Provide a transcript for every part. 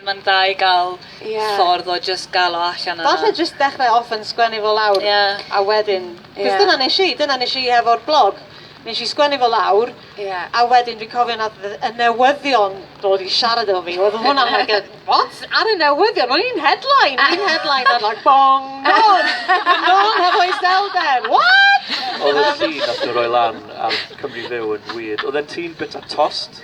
Mae'n dda i gael ffordd o jyst gael o allan yna. Falle jyst dechrau off yn sgwennu fo lawr a wedyn... Cos dyna nes i, dyna nes i hefo'r blog. Nes i sgwennu fo lawr a wedyn fi'n cofio nath y newyddion dod i siarad efo fi. Oedd hwnna like a what? Ar y newyddion? O'n i'n headline! O'n i'n headline ar like bong! Nôl! Nôl hefo iselder! What? Oedd y llun nath nhw roi lan ar Cymru Fyw yn weird. Oedd e'n tîn bita tost.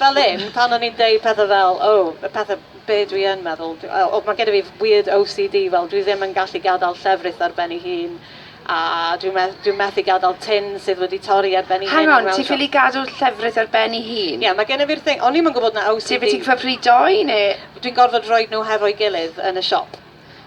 fel hyn, pan o'n i'n deud pethau fel, o, y pethau, be dwi yn meddwl, dwi, o, mae gen i fi weird OCD, fel dwi ddim yn gallu gadael llefrith ar ben ei hun, a dwi'n me dwi methu gadael tin sydd wedi torri ar ben ei hun. Hang on, ti'n ffili gadw llefrith ar ben ei hun? Ie, yeah, mae gen i fi'r thing, o'n i'm yn gwybod na OCD. Ti'n beth ti'n cyfri doi neu? Dwi'n gorfod rhoi nhw hefo'i gilydd yn y siop.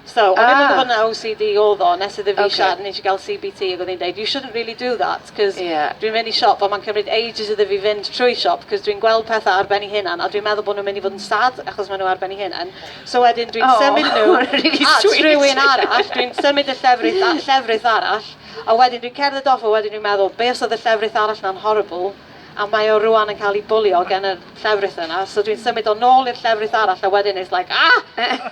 So, o'n i'n meddwl bod yna OCD oedd o, nes iddo fi siarad, nes i gael CBT ac oedd hi'n deud, you shouldn't really do that, cos dwi'n mynd i siop a mae'n cymryd ages iddo fi fynd trwy siop, cos dwi'n gweld pethau ar ben ei hunan, a dwi'n meddwl bod nhw'n mynd i fod yn sad achos maen nhw ar ben ei hunan. So wedyn dwi'n symud nhw at rywun arall, dwi'n symud y llefrith at llefrith arall, a wedyn dwi'n cerdded off a wedyn dwi'n meddwl, be os oedd y llefrith arall na'n horrible, a mae o rwan yn cael ei bwlio gan y llefrith yna, so dwi'n symud o nôl i'r llefrith arall a wedyn it's like, ah!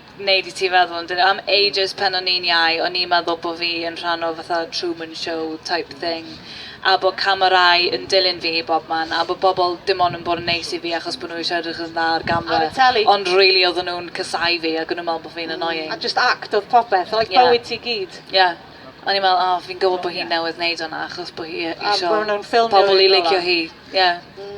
wneud i ti feddwl amdano. Am ages pan o'n i'n iau, o'n i'n meddwl bod fi yn rhan o fatha Truman Show type thing, a bod camerâu yn dilyn fi i bob man, a bod bobl dim ond yn bod yn neis i fi achos bod nhw eisiau edrych yn dda ar gamera. Ar y teli. Ond rili oedden nhw'n casau fi ac o'n nhw'n meddwl bod fi'n mm, annoying. A just act oedd popeth, like yeah. bywyd ti gyd. Yeah. O'n i'n meddwl, oh, fi'n gwybod bod hi'n yeah. newydd wneud hwnna achos bod hi eisiau pobl i licio hi. Yeah. Mm.